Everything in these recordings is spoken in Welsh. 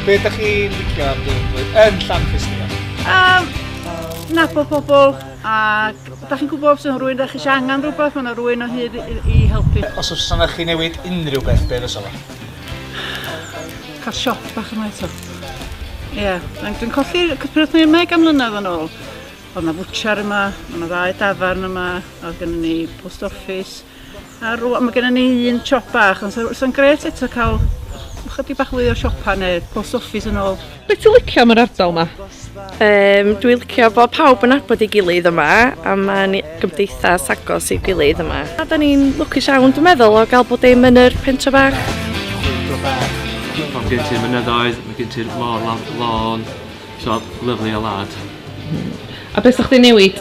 Be ydych chi'n licio am dy flwyddyn yn Llanfisnia? Um, nabod pobl a da chi'n gwybod os yna rwy'n da chi eisiau angen rhywbeth, mae yna rwy'n o hyd i, i helpu. Os oes yna chi newid unrhyw beth, be fysa fo? Cael siop bach yma eto. Ie, yeah. dwi'n colli pryd ni'n meg am mlynedd yn ôl. Oedd yna fwtchar yma, oedd yna ddau dafarn yma, oedd gen ni post office, A rŵan mae gennym ni un siop bach, ond sa'n gret eto cael chydig bach fwy o siopa neu post office yn ôl. Be ti'n licio am yr ardal yma? Um, dwi'n licio bod pawb yn abod ei gilydd yma a mae'n gymdeithas agos i'w gilydd yma. A da ni'n lwcus iawn, dwi'n meddwl, o gael bod dim yn yr pentre bach. Mae gen ti'r mynyddoedd, mae gen ti'r lôn, lôn, so lyflu o lad. A beth sa'ch di newid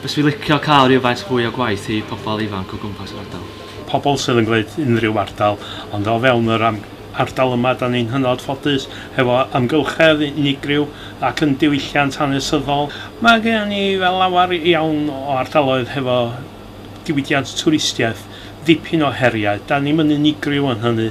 Fyswn i'n licio cael rhywfaint fwy o gwaith i pobl ifanc o gwmpas yr ardal. Pobl sydd yn gwneud unrhyw ardal, ond o fewn yr ardal yma dan ni'n hynod ffodus hefo amgylchedd unigryw ac yn diwylliant hanesyddol. Mae gennym ni lawer iawn o ardaloedd hefo diwydiant twristiaeth, dipyn o heriau, dan ni'm yn unigryw yn hynny.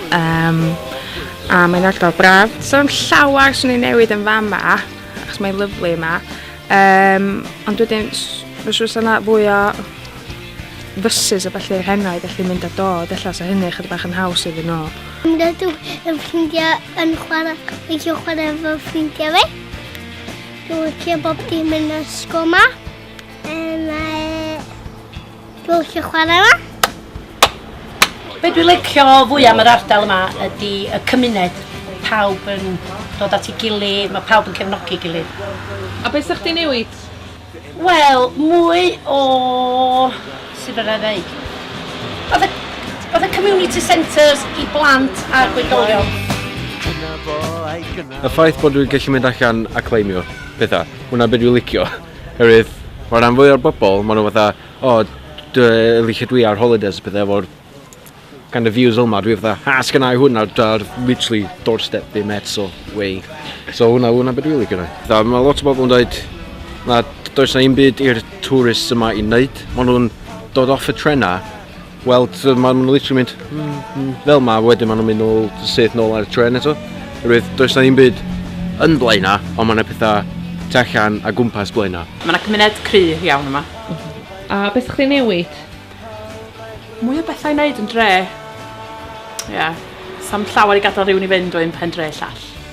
Um, a mae'n ardal braf. So am llawer sy'n ei newid yn fama, achos mae'n lyflu yma. Um, ond wedyn, fy siwrs yna fwy o fysus a falle hennau, felly mynd a dod, efallai sa hynny chyda bach yn haws iddyn nhw. Dwi'n gadw yn ffrindiau yn chwarae, licio chwarae efo ffrindiau fi. Dwi'n licio bob dim yn ysgol ma. Mae Dwi'n licio chwarae yma. Be dwi'n licio fwy am yr ardal yma ydy y cymuned. Pawb yn dod at ei gilydd, mae pawb yn cefnogi gilydd. A be 'sa chdi'n newid? Wel, mwy o... sut fedra i ddeud? Fatha, fatha community centres i blant a gwyddolion. Y ffaith bod dwi'n gallu mynd allan a cleimio pethau, hwnna be dwi'n licio. Oherwydd, mae'r rhan fwyaf o'r bobl, maen nhw fatha, o, oh, dwi, lle dwi ar holidays a pethau efo'r kind of views yma, dwi fatha, ha, sgynna i hwnna, dar, literally, doorstep fi met, so, way. So, hwnna, hwnna beth dwi'n licio na. Mae lot o bobl yn dweud, na, does na un byd i'r tourists yma i wneud. Maen nhw'n dod off y trenau, Wel, maen nhw'n literally mynd hmm, hmm, fel ma, wedyn maen nhw'n mynd nôl syth nôl ar y tren eto. Rwydd, does na ddim byd yn blaena, ond mae yna pethau tu allan a gwmpas blaena. Mae yna cymuned cry iawn yma. A beth ydych chi'n newid? Mwy o bethau i wneud yn dre. Ie. Yeah. Sam llawer i gadael rhywun i fynd o un pen dre llall.